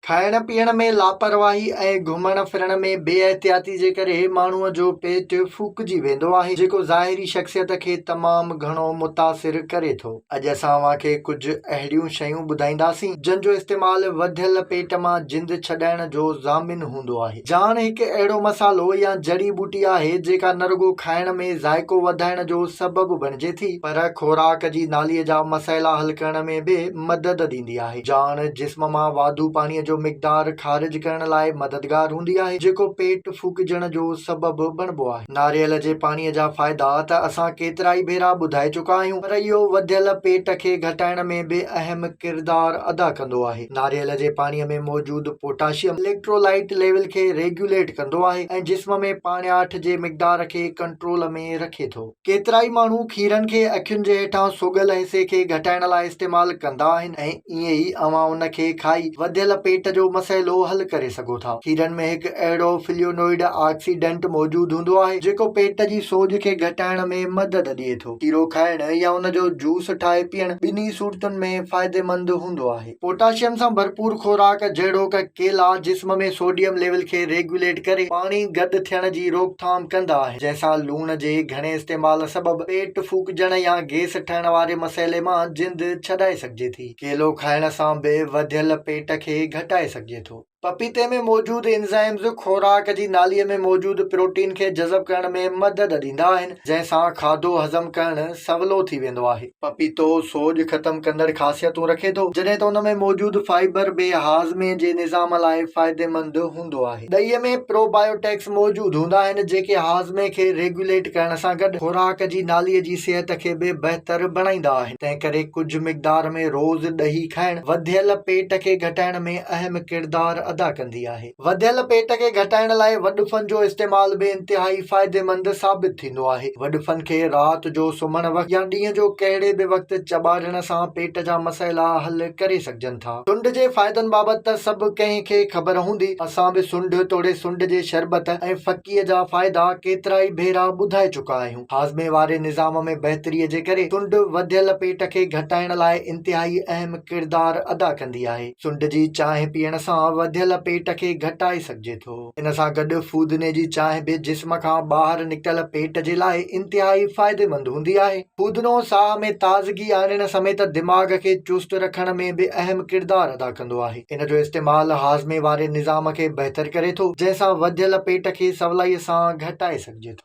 کائڻ پيئڻ ۾ لاپرواهي ۽ گهمڻ ڦرڻ ۾ بي احتياطي جي ڪري ماڻهوء جو پيٽ ڦوڪجي ويندو آهي جيڪو ظاهري شخصيت کي تمام گهڻو متاثر ڪري ٿو. اڄ اسان اوهان کي ڪجهه اهڙيون شيون ٻڌائينداسين جن جو استعمال وڌيل پيٽ مان جند ڇڏائڻ جو ضامن هوندو آهي. جاڻ هڪ اهڙو مصالحو يا جڙي ٻوٽي آهي جيڪا نه رڳو کائڻ ۾ ذائقو وڌائڻ جو سبب بڻجي ٿي پر خوراڪ جي نالي جا مسئلا حل ڪرڻ ۾ به مدد ڏيندي آهي. جاڻ جسم مان واڌو پاڻيء جو مقدار خارج ڪرڻ لاء مددگار هوندي آهي، جيڪو پيٽ ڦوڪجڻ جو سبب بڻبو آهي. ناريل جي پاڻيء جا فائدا ته اسان ڪيترائي ڀيرا ٻڌائي چڪا آهيون، پر اهو وڌيل پيٽ کي گهٽائڻ ۾ به اهم ڪردار ادا ڪندو آهي. ناريل جي پاڻيء ۾ موجود پوٽاشيم اليڪٽرولائيٽ ليول کي ريگيوليٽ ڪندو آهي ۽ جسم ۾ پاڻياٺ جي مقدار کي ڪنٽرول ۾ رکي ٿو. ڪيترائي ماڻهو کيرن کي اکين جي هيٺان سوڳل ۽ سي کي گهٽائڻ لاء استعمال ڪندا آهن ۽ ائين ئي اوهان ان کي کائي وڌيل پيٽ جو مسئلو حل ڪري سگهو ٿا. کيرن ۾ هڪ اهڙو فليونوئيڊ آڪسيڊنٽ موجود هوندو آهي جيڪو پيٽ جي سوڄ کي گهٽائڻ ۾ مدد ڏئي ٿو. کيرو کائڻ يا ان جو جوس ٺاهي پيئڻ ٻنهي صورتن ۾ فائديمند هوندو آهي. پوٽاشيم سان ڀرپور خوراڪ جهڙوڪ ڪيلا جسم ۾ سوڊيم ليول کي ريگيوليٽ ڪري پاڻي گڏ ٿيڻ جي روڪٿام ڪندا آهن جنهن سان لوڻ جي گهڻي استعمال سبب پيٽ ڦوڪجڻ يا گيس ٺهڻ واري مسئلي مان جند ڇڏائي سگهجي ٿي. ڪيلو کائڻ سان به وڌيل پيٽ کي گهٽائي سگهجي ٿو. پپيتي ۾ موجود انزائمز خوراڪ جي ناليء ۾ موجود پروٽين کي جذب ڪرڻ ۾ مدد ڏيندا آهن، جنهن سان کاڌو هضم ڪرڻ سولو ٿي ويندو آهي. پپيتو سوڄ ختم ڪندڙ خاصيتون رکي ٿو، جڏهن ته ان ۾ موجود فائبر به هاضمي جي نظام لاء فائديمند هوندو آهي. ڏهي ۾ پروبائيوٽڪس موجود هوندا آهن، جيڪي هاضمي کي ريگيوليٽ ڪرڻ سان گڏ خوراڪ جي ناليء جي صحت کي به بهتر بڻائيندا آهن. تنهنڪري ڪجهه مقدار ۾ روز ڏهي کائڻ وڌيل پيٽ کي گهٽائڻ ۾ اهم ڪردار ادا ڪندي آهي. وڌيل پيٽ کي گهٽائڻ لاء وڏڦن جو استعمال به انتهائي فائديمند ثابت ٿيندو آهي. وڏڦن کي رات جو سمهڻ وقت يا ڏينهن جو ڪهڙي به وقت چٻاڙڻ سان پيٽ جا مسئلا حل ڪري سگهجن ٿا. سنڊ جي فائدن بابت ته سڀ ڪنهن کي خبر هوندي، اسان به سنڊ توڙي سنڊ جي شربت ۽ ڦڪيء جا فائدا ڪيترائي ڀيرا ٻڌائي چڪا آهيون. هاضمي واري نظام ۾ بهتري جي ڪري سنڊ وڌيل پيٽ کي گهٽائڻ لاء انتهائي اهم ڪردار ادا ڪندي آهي. سنڊ جي چانهه پيئڻ سان وڌيل پيٽ کي گهٽائي سگهجي ٿو. ان سان گڏ فودني جي چانهه به جسم کان ٻاهر نڪتل پيٽ جي لاء انتهائي فائديمند هوندي آهي. فودنو ساهه ۾ تازگي آڻڻ سميت دماغ کي چست رکڻ ۾ به اهم ڪردار ادا ڪندو آهي. ان جو استعمال هاضمي واري نظام کي بهتر ڪري ٿو، جنهن سان وڌيل پيٽ کي سولائي سان گهٽائي سگهجي ٿو.